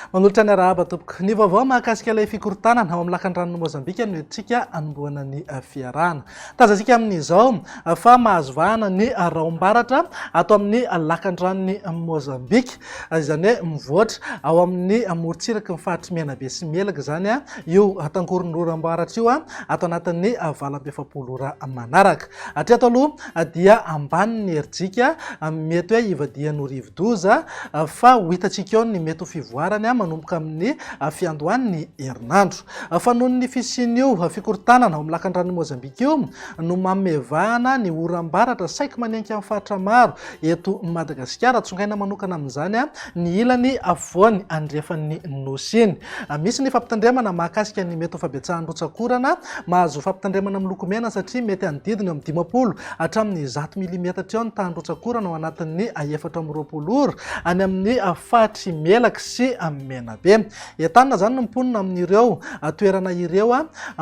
Manolotra ny arahaba tompoko. Ny vaovao mahakasika ilay fikorontanana ao amin'ny lakan'ny ranon'i Mozambika no entintsika anombohana ny eh, fiarahana. Tazantsika amin'izao eh, fa mahazo vahana ny eh, raom-baratra ato amin'ny eh, lakan'ny ranon'i Mozambika. izany hoe mivoatra ao amin'ny morontsiraky ny faritr'i Menabe sy Melaky izany io tangoron'ora ambaratra io ato anatin'ny valo amby efapolo ora manaraka. Hatreto aloha dia ambany ny herijika mety hoe hivadihan'ny rivodoza fa ho hitantsika eo ny mety ho fivoarany manomboka amin'ny fiandohan'ny herinandro. Fa noho ny fisian'io fikorontanana ao amin'ny lakandranon'i Mozambika io no mamevahana ny oram-baratra saiky manenky amin'ny faritra maro Eto Madagasikara, tsongaina manokana amin'izany ny ilany afovoany andrefan'ny Nosy iny. Misy ny fampitandremana mahakasika ny mety ho fabetsahan'ny rotsak'orana. Mahazo fampitandremana miloko mena satria mety hanodidina eo amin'ny dimampolo hatramin'ny zato milimetatra eo ny tahan'ny rotsak'orana ao anatin'ny efatra amby roapolo ora, any amin'ny faritry Melaky sy Menabe. Entanina izany ny mponina amin'ireo toerana ireo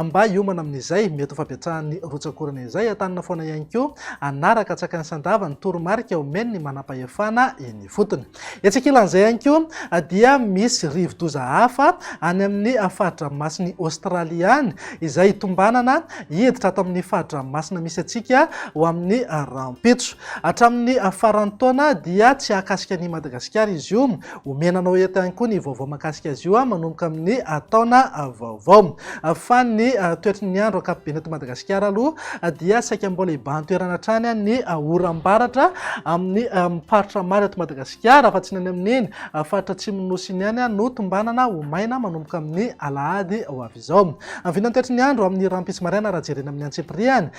mba hiomana amin'izay mety ho fahabetsahan'ny rotsak'orana izay. Entanina foana ihany koa hanaraka an-tsakany sy an-dava ny toromarika omen'ny manampahefana eny ifotony. Etsy ankilan'izay ihany koa dia misy rivodoza hafa any amin'ny fari-dranomasin'i Aostralia any izay tombanana hiditra ato amin'ny fari-dranomasina misy antsika ho amin'ny rahampitso. Hatramin'ny faran'ny taona dia tsy hahakasika an'i Madagasikara izy io Omena anao eto ihany koa ny vaovao mahakasika azy io manomboka amin'ny taona vaovao. Fa ny toetry ny andro ankapobeny eto Madagasikara aloha dia saika mbola hibahan-toerana hatrany ny oram-baratra amin'ny faritra maro eto Madagasikara fa tsy ny any amin'iny faritra atsimon'ny nosy iny ihany no tombanana ho maina manomboka amin'ny alahady ho avy izao. Amin'ny vinantehitry ny andro amin'ny rahampitso maraina raha jerena amin'ny antsipirihany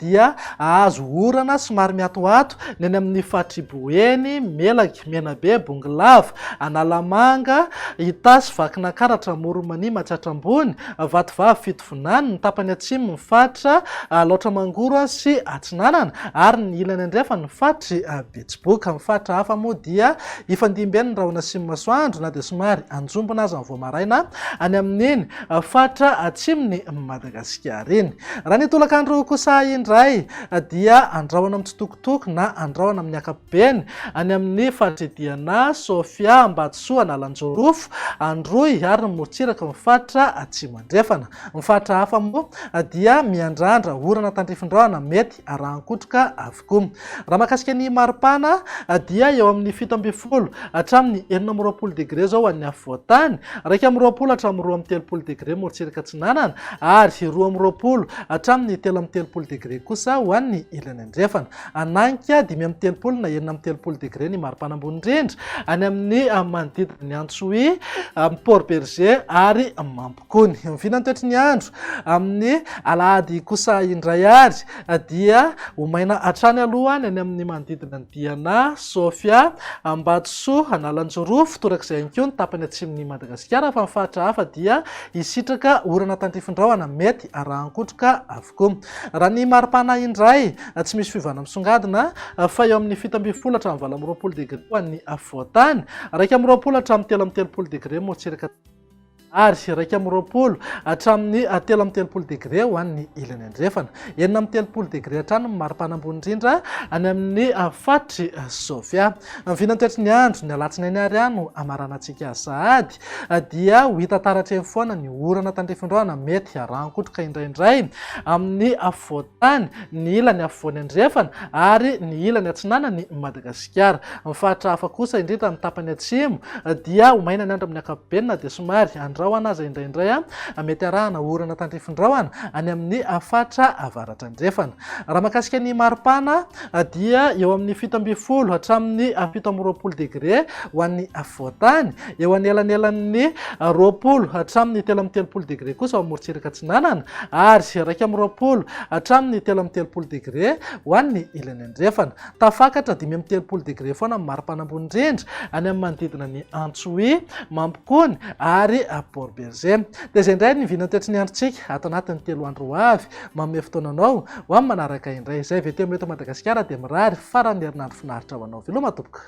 dia hahazo orana somary miatoato ny any amin'ny faritry Boeny, Melaky, Menabe, Bongolava, Analamanga, Itasy, Vakinankaratra, Amoronmania, Matsiatra Ambony, Vatovavy, Fitovinany, ny tapany atsimo ny faritra Alaotra Mangoro sy Atsinanana ary ny ilany andrefan ny faritry Befanahy. Tsiboka amin'ny faritra hafa moa dia hifandimby ny rahona sy ny masoandro na dia somary anjombona aza ny vao maraina any amin'iny faritra atsimon'i Madagasikara iny. Raha ny tolakandro kosa indray dia andrahona mitsitokotoko na andrahona amin'ny ankapobeny any amin'ny faritra Idiana, Sofia, Ambatosoa, Analanjorofo, Androy ary ny morontsiraka amin'ny faritra Atsimo Andrefana. Ny faritra hafa moa dia miandrandra orana tandrifin-drahona mety arahan-kotroka avy Humm. Raha mahakasika ny maripana dia eo amin'ny fito ambin'ny folo hatramin'ny enina amby roapolo degre izao ho an'ny afovoan-tany, iraika amby roapolo hatramin'ny roa amby telopolo degre morotsiraka atsinanana ary roa amby roapolo hatramin'ny telo amby telopolo degre kosa ho an'ny ilany andrefana. Hanainga dimy amby telopolo na enina amby telopolo degre ny maripana ambony indrindra any amin'ny manodidina ny Antsohihy, Port Bergé ary Mampangaroharo. Gony. Miviana ny toetry ny andro amin'ny alahady kosa indray ary dia ho maina hatrany aloha ny any amin'ny manodidina an'i Diana, Sofia, Ambatosoa, Analanjirofo, torak'izay ihany koa ny tapany atsimon'i Madagasikara fa ny faritra hafa dia hisitraka orana tantifindrahona mety arahan-kotroka avokoa. Raha ny mari-pana indray, tsy misy fiovana misongadina fa eo amin'ny fito ambin'ny folo hatramin'ny valo amby roapolo degre ho an'ny afovoan-tany, iraika amby roapolo hatramin'ny telo amby telopolo degre moa tsy iraka. ary iraika amby roapolo hatramin'ny telo amby telopolo degre ho an'ny ilany andrefana. Enina amby telopolo degre hatrany ny maripana ambony indrindra any amin'ny faritry Sofia. Ny vinantoetry ny andro ny alatsinainy ary ahy no hamaranantsika sahady dia ho hita taratra eny foana ny orana tandrifindraona mety harangotroka indraindray amin'ny fotoana tany, ny ilany afovoany andrefana ary ny ilany atsinanana i Madagasikara. Ny faritra hafa kosa, indrindra ny tapany atsimo, dia ho maina ny andro amin'ny ankapobeny na dia somary andrahona aza indraindray. Mety arahana orana tandrifindrahona any amin'ny faritra avaratra andrefana. Raha mahakasika ny maripana, dia eo amin'ny fito ambin'ny folo hatramin'ny fito amby roapolo degre ho an'ny afovoan-tany, Eo anelanelan'ny roapolo hatramin'ny telo amby telopolo degre kosa ao amorontsiraka atsinanana ary iraika amby roapolo hatramin'ny telo amby telopolo degre ho an'ny ilany andrefana. Tafakatra dimy amby telopolo degre foana amin'ny maripana ambony indrindra any amin'ny manodidina ny Antsohihy, Mampikony ary Port Bergé. Dia izay indray ny vinan'ny toetry ny androntsika ato anatin'ny telo andro ho avy. Manome fotoana anao ho amin'ny manaraka indray. Izay VTM eto Madagasikara dia mirary faran'ny herinandro finaritra ho anao veloma tompoko.